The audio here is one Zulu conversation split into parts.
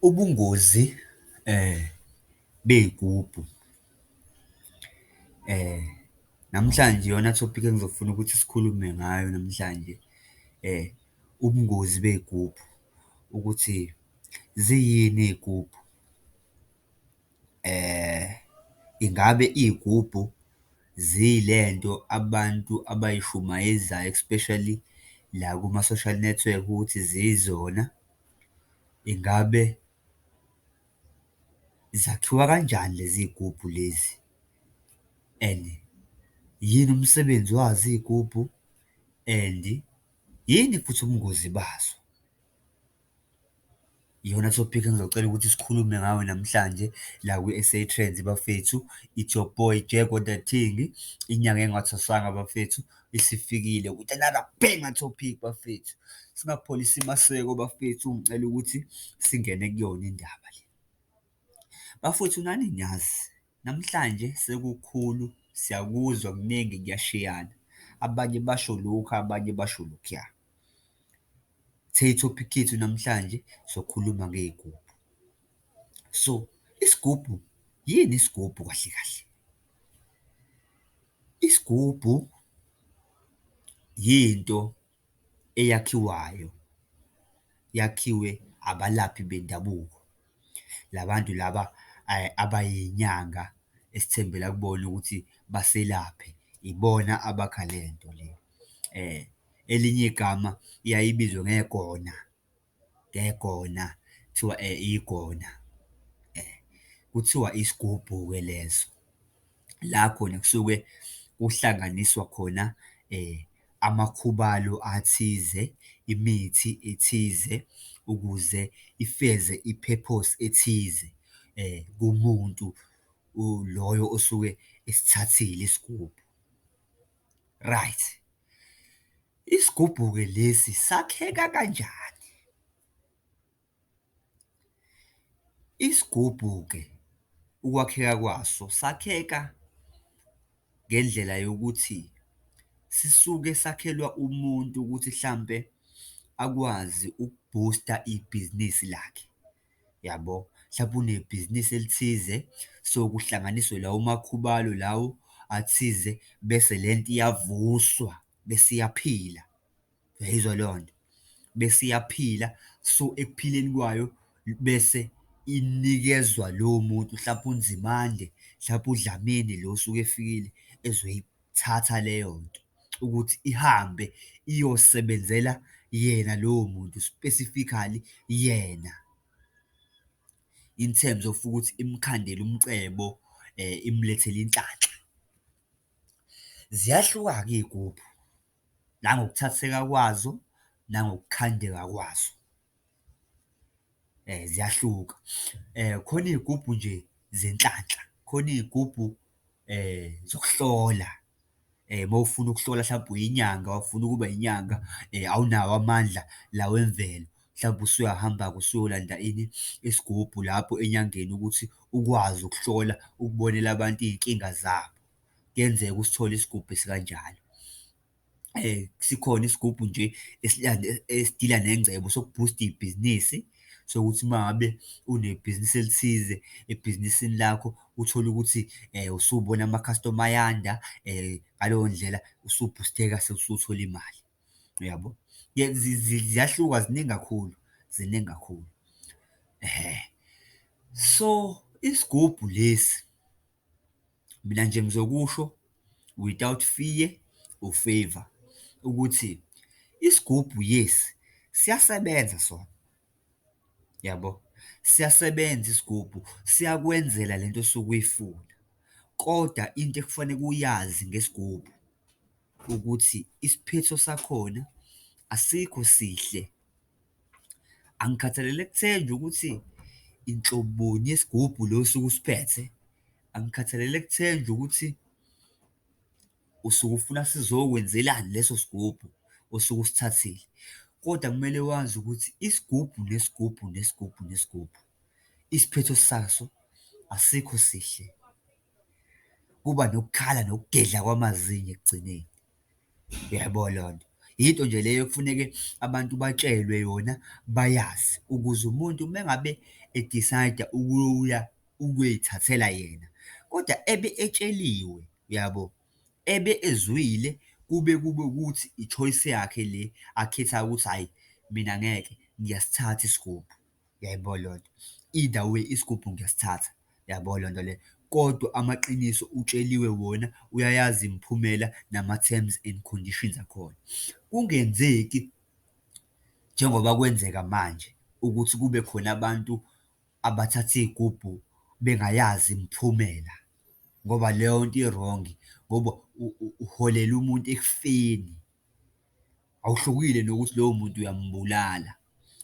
Ubungozi bey'gubhu, namhlanje iyona thopikhi engizofuna ukuthi sikhulume ngayo namhlanje, ubungozi bey'gubhu ukuthi ziyini iy'gubhu. Ingabe iy'gubhu zile nto abantu abayishumayezayo especially la kuma-social network ukuthi ziyizona? Ingabe zakhiwa kanjani lezi iy'gubhu lezi? And yini umsebenzi wazo iy'gubhu? And yini futhi ubungozi bazo? Iyona topic engizocela ukuthi sikhulume ngayo namhlanje la kwi-S_A Trends bafethu. It's your boy Jack on the thing, inyanga engathwasanga bafethu isifikile with another banger topic bafethu. Singapholisi maseko bafethu, ngicela ukuthi singene kuyona indaba le. Bafwethu nani niyazi. Namhlanje sekukhulu siyakuzwa kuningi kuyashiyana abanye basho lokhu abanye basho lokhuya. Sithe ithophikhi yethu namhlanje sokhuluma ngey'gubhu. So, isigubhu yini isigubhu kahle kahle? Isigubhu yinto. eyakhiwayo yakhiwe abalaphi bendabuko. La bantu laba abayinyanga esithembela kubona ukuthi baselaphe, ibona abakha le nto le. Elinye igama iyaye ibizwe ngegona. ngegona, kuthiwa igona. Kuthiwa isigubhu-ke leso, la khona kusuke kuhlanganiswa khona amakhubalo athize, imithi ethize ukuze ifeze i-purpose ethize kumuntu loyo osuke esithathile isigubhu. Right. Isigubhu-ke lesi sakheka kanjani? Isigubhu-ke ukwakheka kwaso sakheka ngendlela yokuthi sisuke sakhelwa umuntu ukuthi hlampe akwazi ukubhusta ibhizinisi lakhe. yabo, hlampe unebhizinisi elithize, so kuhlanganiswe lawo makhubalo lawo athize, bese le nto iyavuswa, bese iyaphila. Uyayizwa leyo nto? Bese iyaphila, so ekuphileni kwayo bese inikezwa lowo muntu, hlampe uNzimande, hlampe uDlamini lo osuke efikile ezoyibheka. ukuyithatha leyo nto ukuthi ihambe iyosebenzela yena lowo muntu specifically yena in terms of ukuthi imkhandele umcebo um imlethele inhlanhla. Ziyahluka-ke iy'gubhu nangokuthatheka kwazo nangokukhandeka kwazo. Ziyahluka, khona iy'gubhu nje zenhlanhla, khona iy'gubhu zokuhlola, uma ufuna ukuhlola hlampe uyinyanga, ufuna ukuba inyanga, awunawo amandla la wemvelo, hlampe usuyahamba-ke usuyolanda ini? Isigubhu lapho enyangeni ukuthi ukwazi ukuhlola, ukubonela abantu iy'nkinga zabo. Kuyenzeka usithole isigubhu esikanjalo. sikhona isigubhu nje esidila nengcebo sokubhusta ibhizinisi, sokuthi uma ngabe unebhizinisi elithize, ebhizinisini lakho uthole ukuthi usubona amakhastoma ayanda, ngaleyo ndlela usubhusitheka sewusuthole imali, uyabo? Ziyahluka ziningi kakhulu, ziningi kakhulu. So, isigubhu lesi. Mina nje ngizokusho without fear or favour ukuthi isigubhu yes, siyasebenza sona, yabo? Siyasebenza isigubhu, siyakwenzela le nto osuke uyifuna kodwa into ekufaneke uyazi ngesigubhu ukuthi isiphetho sakhona asikho sihle. Angikhathalele kuthenjwa ukuthi inhloboni yesigubhu lo osuke usiphethe, angikhathalele kuthenjwa ukuthi usuke ufuna sizokwenzelani leso sigubhu osuke usithathile, kodwa kumele wazi ukuthi isigubhu nesigubhu nesigubhu nesigubhu isiphetho saso asikho sihle, kuba nokukhala nokugedla kwamazinyo ekugcineni. Uyayibona leyo nto? Yinto nje leyo ekufuneke abantu batshelwe yona bayazi ukuze umuntu uma ngabe e-decide-a ukuya ukuy'thathela yena, kodwa ebe etsheliwe, uyabo? Ebe ezwile kube kube ukuthi i-choice yakhe le akhethayo ukuthi hhayi, mina ngeke, ngiyasithatha isigubhu. Uyayibona leyo nto? Either way isigubhu ngiyasithatha, uyabo leyo nto leyo. Kodwa amaqiniso utsheliwe wona, uyayazi imiphumela nama-terms and conditions akhona. Kungenzeki njengoba kwenzeka manje ukuthi kube khona abantu abathatha iy'gubhu bengayazi imiphumela, ngoba leyo nto i-wrong-i ngoba uholela umuntu ekufeni. Awuhlukile nokuthi lowo muntu uyambulala.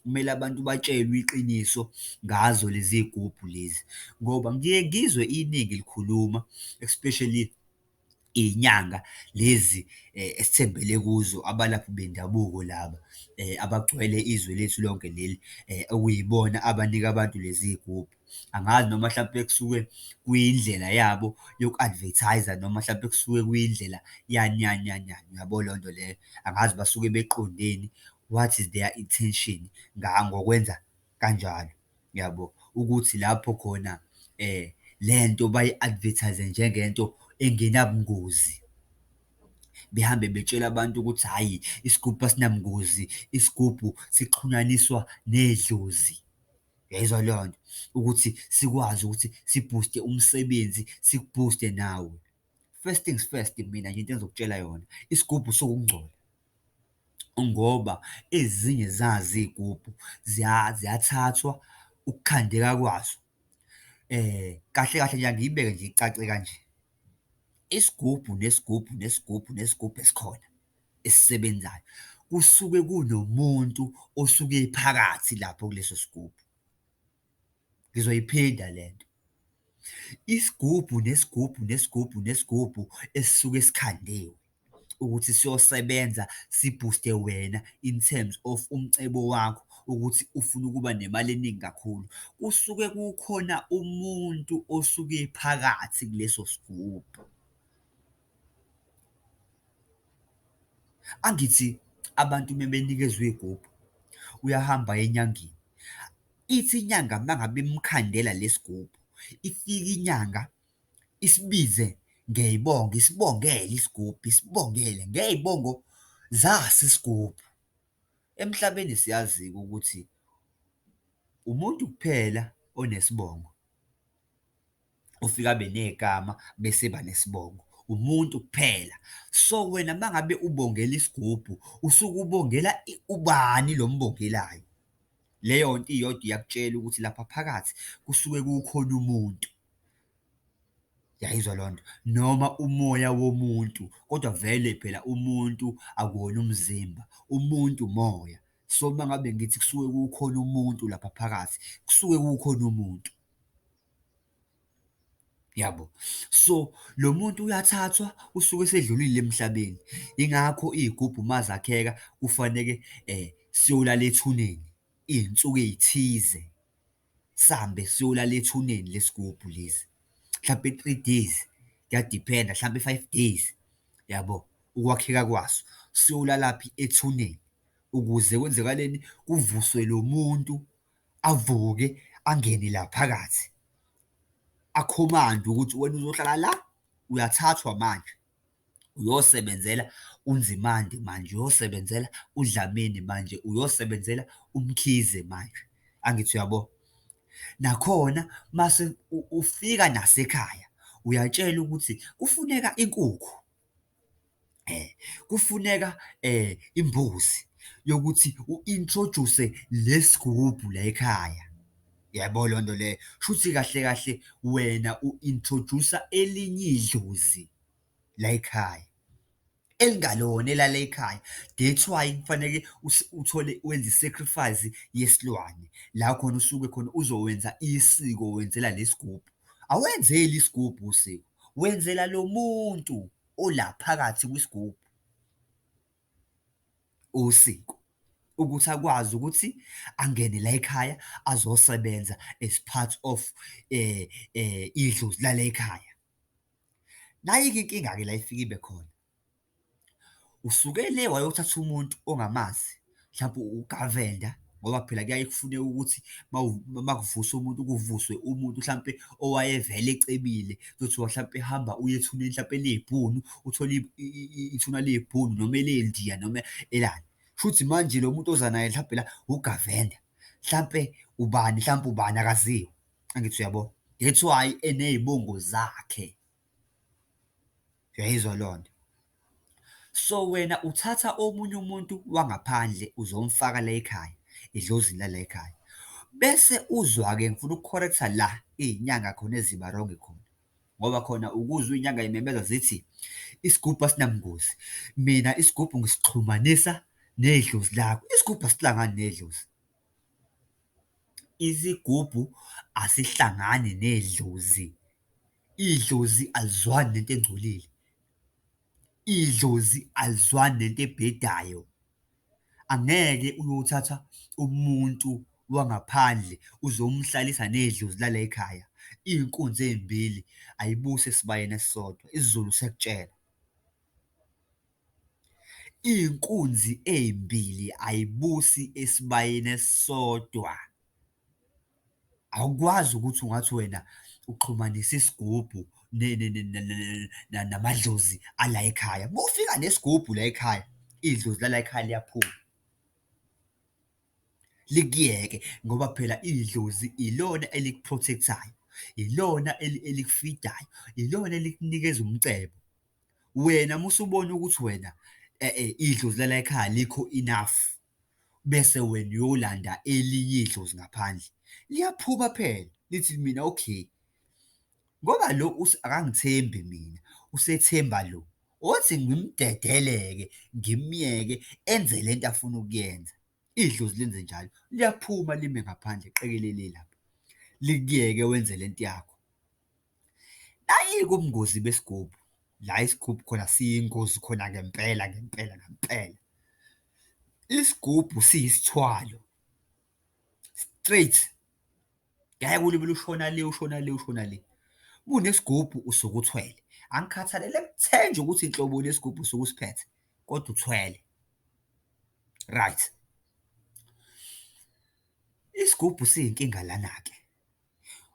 Kumele abantu batshelwe iqiniso ngazo lezi zigubhu lezi, ngoba ngiye ngizwe iningi likhuluma, especially iy'nyanga lezi esithembele kuzo, abalaphi bendabuko laba abagcwele izwe lethu lonke leli, okuyibona abanika abantu lezi zigubhu. Angazi noma hlampe kusuke kuyindlela yabo yoku-advertise-a noma hlampe kusuke kuyindlela yani yani yani yani, uyabo leyo nto leyo. Angazi basuke beqondeni, what is their intention ngokwenza kanjalo, uyabo? Ukuthi lapho khona le nto bayi-advertise-e njengento engenabungozi, behambe betshela abantu ukuthi hhayi, isigubhu asinabungozi, isigubhu sixhunyaniswa nedlozi. Uyayizwa leyo nto? Ukuthi sikwazi ukuthi sibhuste umsebenzi, sikubhuste nawe. First things first, mina nje into engizokutshela yona, isigubhu siwukungcola ngoba ezinye zazo iy'gubhu ziyathathwa ukukhandeka kwazo. Kahle kahle nje angiyibeke nje icace kanje, isigubhu nesigubhu nesigubhu nesigubhu esikhona. esisebenzayo kusuke kunomuntu osuke ephakathi lapho kuleso sigubhu. Ngizoyiphinda le nto. Isigubhu nesigubhu nesigubhu nesigubhu esisuke sikhandiwe ukuthi siyosebenza sibhuste wena in terms of umcebo wakho ukuthi ufuna ukuba nemali eningi kakhulu. Kusuke kukhona umuntu osuke phakathi kuleso sigubhu. Angithi abantu uma benikezwa iy'gubhu, uyahamba aye enyangeni. Ithi inyanga uma ngabe imukhandela lesi gubhu, ifike inyanga isibize ngey'bongo, isibongele isigubhu, isibongele ngey'bongo zaso isigubhu. Emhlabeni siyazi-ke ukuthi umuntu kuphela onesibongo. ufike abe negama bese ba nesibongo umuntu kuphela so wena mangabe ubongela isigubhu usuke ubongela ubani lo mbongelayo leyo nto iyodwa iyakutshela ukuthi lapha phakathi kusuke kukhona umuntu yayizwa loo nto noma umoya womuntu kodwa vele phela umuntu akuwona umzimba umuntu umoya so uma ngabe ngithi kusuke kukhona umuntu lapha phakathi kusuke kukhona umuntu Yabo? So, lo muntu uyathathwa, usuke esedlulile emhlabeni. Yingakho iy'gubhu uma zakheka kufaneke siyolala ethuneni iy'nsuku ey'thize, sihambe siyolala ethuneni lesigubhu lesi, mhlampe three days, kuyadiphenda, mhlampe five days, yabo? Ukwakheka kwaso, siyolalaphi? Ethuneni ukuze kwenzekaleni? Kuvuswe lo muntu. avuke angene la phakathi, akhomande ukuthi wena uzohlala la, uyathathwa manje, uyosebenzela uNzimande manje, uyosebenzela uDlamini manje, uyosebenzela uMkhize manje. Angithi uyabo? Nakhona mase ufika nasekhaya, uyatshela ukuthi kufuneka inkukhu. kufuneka imbuzi yokuthi u-introduce lesigubhu la ekhaya. Yabo leyo nto leyo? Shuthi kahle kahle wena u-introduce-a elinye idlozi la ekhaya, elingalona elala ekhaya. That's why kufaneke uthole wenze i-sacrifice yesilwane, la khona usuke khona uzowenza isiko wenzela lesigubhu. Awenzeli isigubhu usiko, wenzela lo muntu ola phakathi kwisigubhu usiko ukuthi akwazi ukuthi angene la ekhaya azosebenza as part of um idlozi lala ekhaya. Nayi-ke inkinga-ke la efike ibe khona, Usuke le wayothatha umuntu ongamazi, mhlampe uwuGavenda ngoba phela kuyaye kufuneke ukuthi uma uma kuvuswa umuntu, kuvuswe umuntu hlampe owayevele ecebile. Kuthiwa hlampe hamba uye ethuneni hlampe eliyibhunu, uthole ithuna liyibhunu noma elendiya noma elani. Kushuthi manje lo muntu oza naye hlampe la wuGavenda, hlampe ubani hlampe ubani akaziwa, angithi uyabo? That's why eney'bongo zakhe. Uyayizwa lonto? So wena uthatha omunye umuntu wangaphandle uzomfaka la ekhaya, edlozini lala ekhaya. Bese uzwa-ke ngifuna uku-correct-a la iy'nyanga khona eziba wrong khona, ngoba khona ukuzwa iy'nyanga y'memeza zithi isigubhu asinabungozi. Mina isigubhu ngisixhumanisa nedlozi lakho, isigubhu asilwa ngani nedlozi? Isigubhu asihlangani nedlozi, idlozi alizwani nento engcolile, idlozi alizwani nento ebhedayo. Angeke uyothatha umuntu wangaphandle uzomhlalisa nedlozi lalay'khaya, iy'nkunzi ey'mbili ayibusi esibayeni esisodwa, isiZulu siyakutshela. Inkunzi eyimbili ayibusi esibayeni esisodwa. Awukwazi ukuthi ungathi wena uxhumanisa isigubhu namadlozi alayikhaya. Uma ufika nesigubhu layikhaya, idlozi lalayikhaya liyaphuma, likuyeke ngoba phela idlozi ilona eliku-protect-ayo, ilona elikufidayo, ilona elikunikeza umcebo. Wena uma usubona ukuthi wena idlozi lala ekhaya alikho enough, bese wena uyolanda elinye idlozi ngaphandle. Liyaphuka phela, lithi kimina, okay, ngoba lo akangithembi mina, usethemba lo, othi ngimdedele-ke, ngimyeke enze le nto afuna ukuyenza. Idlozi lenze njalo, liyaphuma lime ngaphandle qekelele lapho, likuyeke wenze le nto yakho. Nayike ubungozi besigubhu, la isigubhu khona siyingozi khona ngempela ngempela ngempela. Isigubhu siyisithwalo, straight, ngeke ulibele ushona le, ushona le, ushona le. Uma unesigubhu usuke uthwele, angikhathalele kuthe nje ukuthi nhlobo luni yesigubhu osuke usiphethe, kodwa uthwele. Right. Isigubhu siyinkinga lana-ke.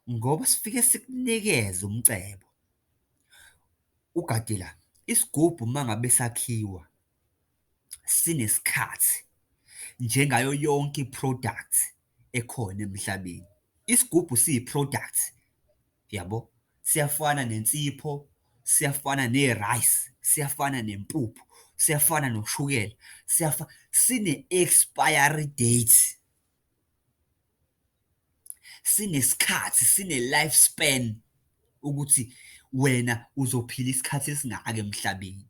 ngoba sifike sikunikeze umcebo. Ugadila, isigubhu uma ngabe sakhiwa sinesikhathi njengayo yonke i-product ekhona emhlabeni. Isigubhu siyi-product, yabo? Siyafana nensipho, siyafana ne-rice, siyafana nempuphu, siyafana noshukela, siyafa, sine-expiry date. Sinesikhathi, sine-life span ukuthi wena uzophila isikhathi esingaka emhlabeni.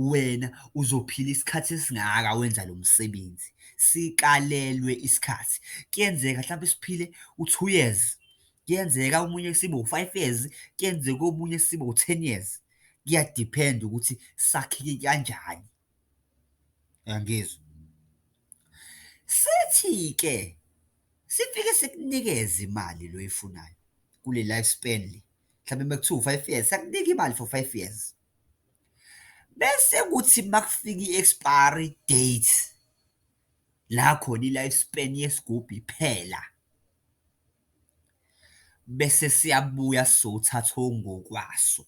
Wena uzophila isikhathi esingaka wenza lo msebenzi, sikalelwe isikhathi. Kuyenzeka mhlawumbe siphile u-two years, kuyenzeka omunye sibe u-five years, kuyenzeka omunye sibe u-ten years, kuyadiphenda ukuthi sakheke kanjani. Uyangizwa? Sithi-ke sifike sikunikeze imali le oyifunayo kule life span le, mhlawumbe uma kuthiwa u-five years, siyakunika imali for five years. Bese kuthi uma kufika i-expiry date la khona i-life span yesigubhu iphela, bese siyabuya sizothatha okungokwaso.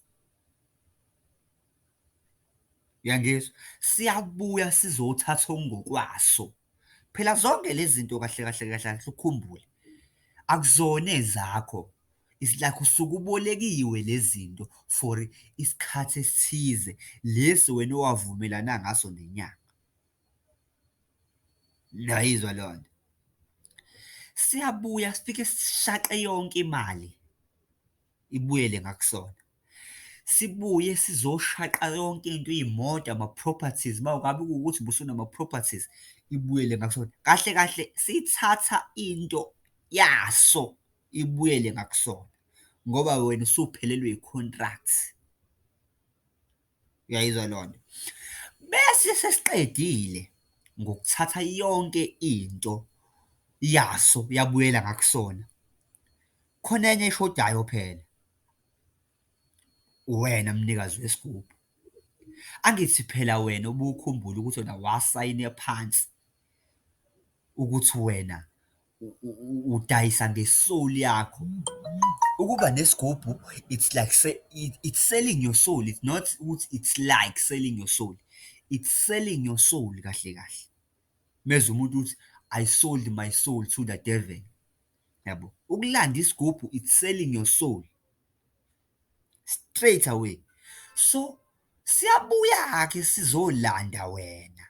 Uyangizwa? Siyabuya sizothatha okungokwaso. Phela zonke lezi zinto kahle kahle kahle kahle ukhumbule, akuzona ezakho. It's like usuke ubolekiwe lezi zinto for isikhathi esithize, lesi wena owavumelana ngaso nenyanga. Niyayizwa leyo nto? Siyabuya sifike sishaqe yonke imali ibuyele ngakusona. sibuye sizoshaqa yonke into iy'moto ama-properties uma ngabe kuwukuthi busunama-properties ibuyele ngakusona kahle kahle sithatha into yaso ibuyele ngakusona ngoba wena usuphelelwe i-contract uyayizwa loo nto bese sesiqedile ngokuthatha yonke into yaso yabuyela ngakusona khona enye eshodayo phela Uwena mnikazi wesigubhu. Angithi phela wena ubukhumbula ukuthi wena wasayina phansi ukuthi wena udayisa nge-soul yakho. Ukuba nesigubhu it's like it's selling your soul, it's not ukuthi it's like selling your soul, it's selling your soul kahle kahle. Mezwa umuntu uthi, I sold my soul to the devil. yabo ukulanda isigubhu it's selling your soul straight away so siyabuya ke sizolanda wena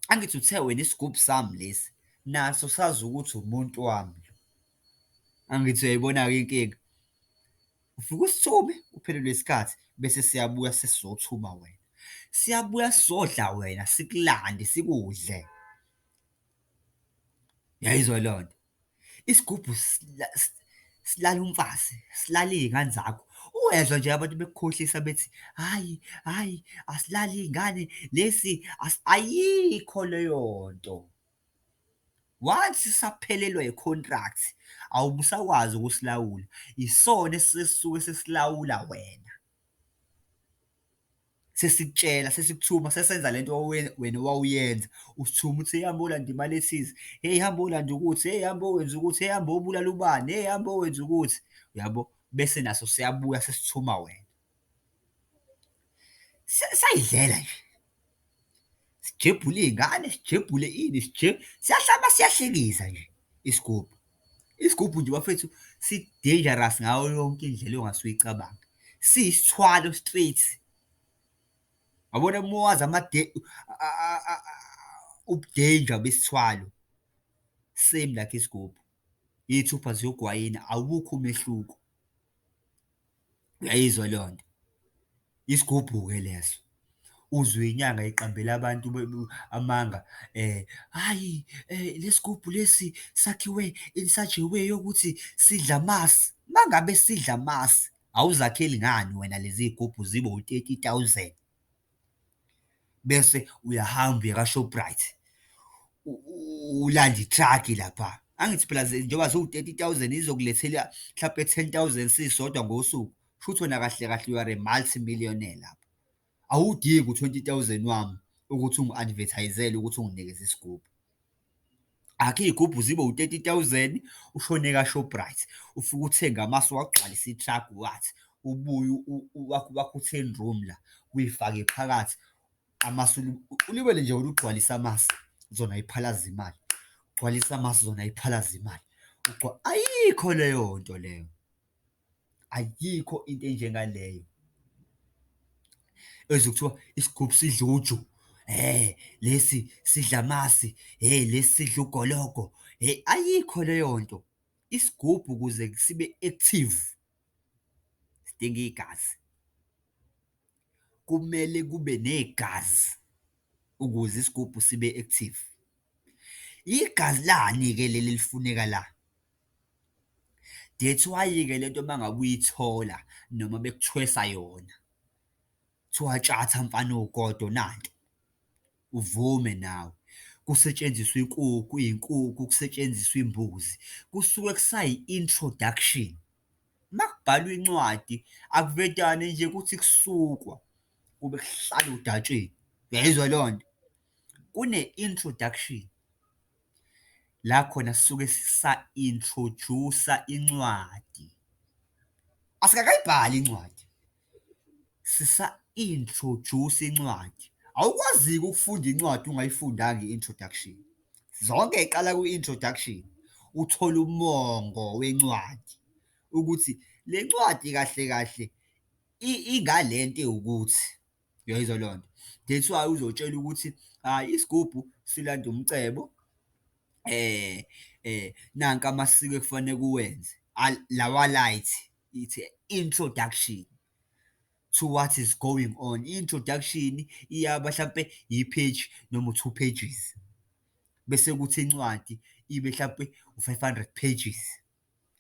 angithi uthe wena isigubhu sami lesi naso sazi ukuthi umuntu wami lo angithi uyayibona-ke inkinga ufike usithume uphelelwe isikhathi bese siyabuya sesizothuma wena siyabuya sizodla wena sikulande sikudle Uyayizwa leyo nto? Isigubhu silala umfazi, silala iy'ngane zakho. Uyezwa nje abantu bekukhohlisa bethi, hhayi, hhayi, asilali iy'ngane, lesi, ayikho leyo nto. Once usaphelelwa i-contract, awube usakwazi ukusilawula, isona esisuke sesilawula wena. sesikutshela sesikuthuma sesenza le nto wena owawuyenza usithuma uthi hamba olanda imali ethize heyi hamba olanda ukuthi heyi hamba owenza ukuthi heyi hamba obulala ubani heyi hamba owenza ukuthi uyabo bese naso siyabuya sesithuma wena sayidlela nje Sijebhule iy'ngane, sijebhule ini, siyahlaba siyahlekisa nje isigubhu. Isigubhu nje bafethu si-dangerous ngayo yonke indlela ongase uyicabanga. Siyisithwalo straight. Yabona uma wazi ubu-danger besithwalo, same like isigubhu. Iy'thupha ziyogwayina, awukho umehluko. Uyayizwa leyo nto? Isigubhu-ke leso. Uzwe inyanga iqambela abantu amanga, hhayi le sigubhu lesi sakhiwe insajewu eyokuthi sidla amasi. Uma ngabe sidla amasi, awuzakheli ngani wena lezi zigubhu zibe wu-thirty thousand? bese uyahamba uye ka-Shoprite, ulande ithrakhi lapha. Angithi phela njengoba ziwu-thirty thousand izokulethela mhlampe ten thousand sisodwa ngosuku, kushuthi wena kahle kahle you are a multi millionaire lapho. Awudingi u-twenty thousand wami ukuthi ungi-advertise-ele ukuthi unginikeze isigubhu. akhe iy'gubhu zibe u-thirty thousand ushone ka-shoprite ufike uthenge amasi wagcwalisa i-truck wathi ubuye wakho u-ten room la uyifake phakathi amasi ulibele nje wena ugcwalisa amasi zona iphalaza imali ugcwalisa amasi zona iphalaza imali ayikho leyo nto leyo. Ayikho into enjengaleyo ezwe kuthiwa isigubhu sidla uju, hhe lesi sidla amasi, hhe lesi sidla ugologo, hhe ayikho leyo nto. Isigubhu ukuze sibe active sidinga igazi. kumele kube negazi ukuze isigubhu sibe active. Igazi lani-ke leli elifuneka la? That's why-ke le nto uma ngabe uyithola noma bekuthwesa yona, kuthiwa tshatha mfana owugodo nanto, uvume nawe. Kusetshenziswa inkukhu, iy'nkukhu, kusetshenziswa imbuzi, kusuke kusayi-introduction. Makubhalwa incwadi akuvedane nje ukuthi kusukwa kube kuhlala odatsheni, uyayizwa leyo nto? Kune-introduction la khona sisuke sa-introjusa incwadi, asikakayibhali incwadi, Sisa-introduce incwadi, awukwazi-ke ukufunda incwadi ungayifundanga i-introduction. Zonke ziqala kwi-introduction, uthole umongo wencwadi ukuthi le ncwadi kahle kahle ingale nto ewukuthi, uyayizwa leyo nto? That's why uzotshelwa ukuthi, hhayi isigubhu silanda umcebo, nanka amasiko ekufanele uwenze, lawa-right, it's a introduction to what is going on introduction iyaba hlampe yi-page noma u-two pages bese kuthi incwadi ibe hlampe u-five hundred pages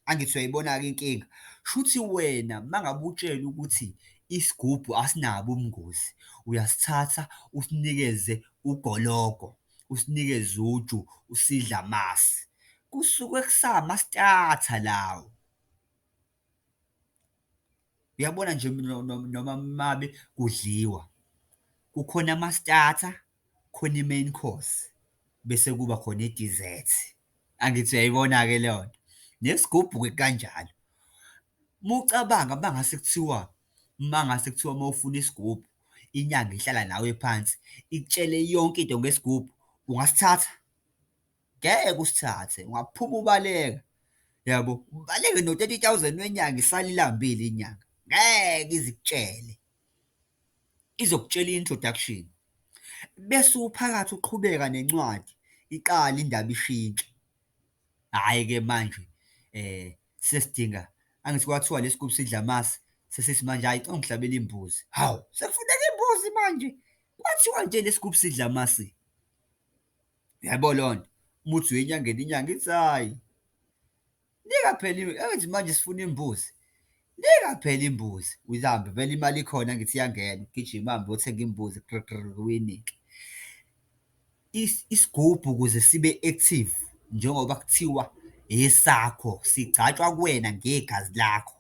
angithi uyayibona-ke inkinga shuthi wena uma ngabe utshela ukuthi isigubhu asinabo ubungozi uyasithatha usinikeze ugologo usinikeze uju usidla amasi kusuke kusama starter lawo Uyabona nje noma mabe kudliwa, kukhona ama-starter, kukhona i-main course, bese kuba khona i-dessert. Angithi uyayibona-ke leyo nto? Nesigubhu-ke kukanjalo. Uma ucabanga uma ngase kuthiwa, uma ngase kuthiwa uma ufuna isigubhu, inyanga ihlala nawe phansi, ikutshele yonke into ngesigubhu, ungasithatha? ngeke usithathe, ungaphuma ubaleka, yabo, ubaleke no-thirty thousand wenyanga isale ilambile inyanga, ngeke ize ikutshele, izokutshela i-introduction, bese uphakathi uqhubeka nencwadi, iqale indaba ishintshe. Hhayi-ke manje sesidinga angithi kwathiwa lesi gubhu sidla amasi, sesithi manje hhayi cela ungihlabele imbuzi, hawu, sekufuneka imbuzi manje, kwathiwa nje lesi gubhu sidla amasi. Yabo leyo nto, umuthi uyenyangeni inyanga ithi hhayi, lingakapheli, engathi manje sifuna imbuzi, lingakapheli imbuzi, uyihambe vele imali ikhona ngithi iyangena, ugijime uhambe uyothenga imbuzi, gri gri gri, uyinike. Isigubhu ukuze sibe active njengoba kuthiwa esakho, sigcatshwa kuwena ngegazi lakho.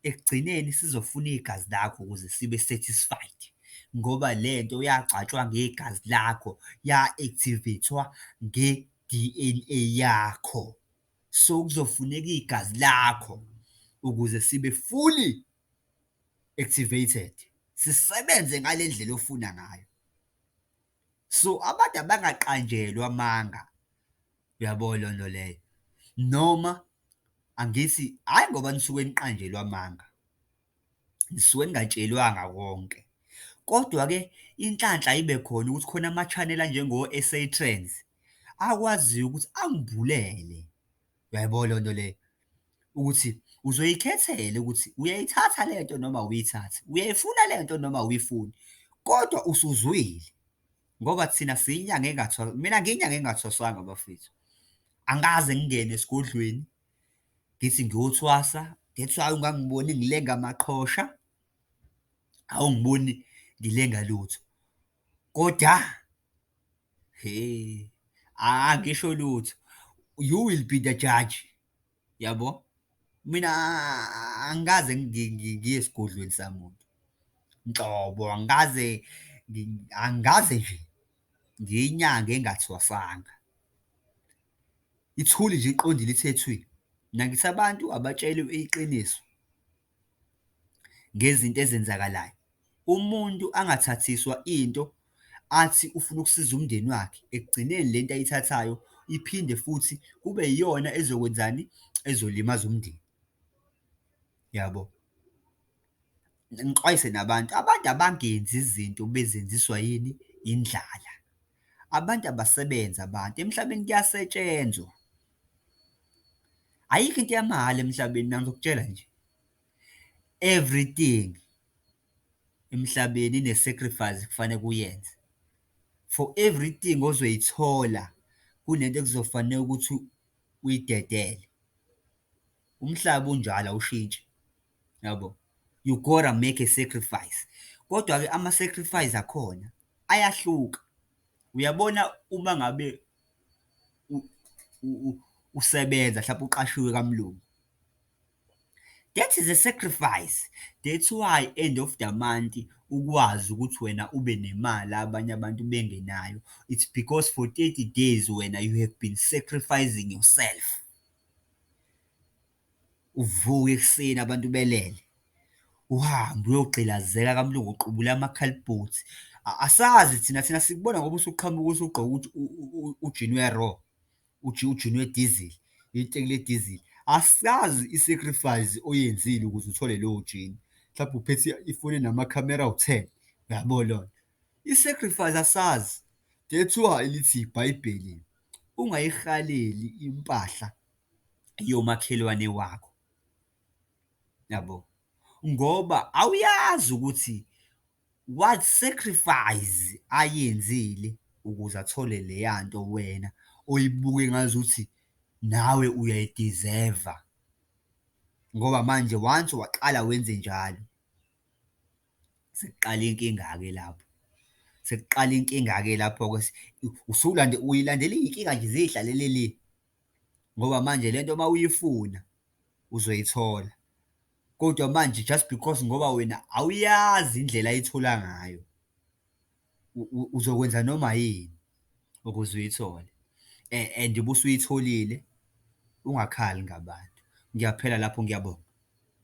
ekugcineni sizofuna igazi lakho ukuze sibe satisfied ngoba le nto yagcatshwa ngegazi lakho ya-activate-wa nge-D_N_A yakho. So, kuzofuneka igazi lakho ukuze sibe fully activated, sisebenze ngale ndlela ofuna ngayo. So, abantu abangaqanjelwa amanga Uyabo leyo nto leyo? Noma angithi, hhayi ngoba nisuke niqanjelwe amanga, nisuke ningatshelwanga konke. Kodwa-ke inhlanhla ibe khona ukuthi khona ama-channel anjengo-S_A Trends, akwaziyo ukuthi angibulele. Uyaybo leyo nto leyo? Ukuthi uzoyikhethela ukuthi uyayithatha le nto noma awuyithathi, uyayifuna le nto noma awuyifuni, kodwa usuzwile. ngoba thina siyinyanga engathwasa mina ngiyinyanga engathwasanga bafethu angikaze ngingene esigodlweni ngithi ngiyothwasa that's why ungangiboni ngilenga amaqhosha awungiboni ngilenga lutho kodwa he angisho lutho you will be the judge yabo mina angikaze ngiye esigodlweni samuntu nhlobo angikaze angikaze nje ngiyinyanga engathwasanga ithuli nje iqondile ithethwini nakisa abantu abatshelwe iqiniso ngezinto ezenzakalayo, umuntu angathathiswa into athi ufuna ukusiza umndeni wakhe, ekugcineni le nto ayithathayo iphinde futhi kube iyona ezokwenzani? Ezolimaza umndeni. Yabo? Ngixwayise nabantu, abantu abangenzi izinto bezenziswa yini? Indlala. Abantu abasebenzi abantu, emhlabeni kuyasetshenzwa. Ayikho into yamahhala emhlabeni mina ngizokutshela nje, everything emhlabeni ine-sacrifice ekufanele uyenze. For everything ozoyithola kunento ekuzofanele ukuthi uyidedele. Umhlaba unjalo awushintshi. yabo you gotta make a sacrifice kodwa-ke ama-sacrifice akhona ayahluka. Uyabona uma ngabe usebenza hlampe uqashiwe kamlungu, that is a sacrifice, that's why end of the month ukwazi ukuthi wena ube nemali abanye abantu bengenayo, it's because for thirty days wena you have been sacrificing yourself. Uvuke ekuseni abantu belele, uhambe uyogqilazeka kamlungu uqubule amakhalibhothi. Asazi thina, thina sikubona ngoba usuqhamuka usugqoke ukuthi ujini we-raw, ujini wedizili, iteki ledizili. Asazi i-sacrifice oyenzile ukuze uthole lowo jini, mhlawumbe uphethe ifoni enamakhamera awu-ten, uyabo loyo? I-sacrifice asazi, that's why lithi ibhayibheli, ungayirhaleli impahla. yomakhelwane wakho, yabo, ngoba awuyazi ukuthi what sacrifice ayenzile ukuze athole leya nto wena oyibuke engazuthi nawe uyayi-deserve-a, ngoba manje once waqala wenzenjalo, sekuqala inkinga-ke lapho, sekuqala inkinga-ke lapho-ke usulandela, uyilandela iy'nkinga nje ziy'hlalele le. ngoba manje le nto uma uyifuna uzoyithola, kodwa manje just because ngoba wena awuyazi indlela ayithola ngayo, uzokwenza noma yini ukuze uyithole and ubusuyitholile ungakhali ngabantu. Ngiyaphela lapho, ngiyabonga.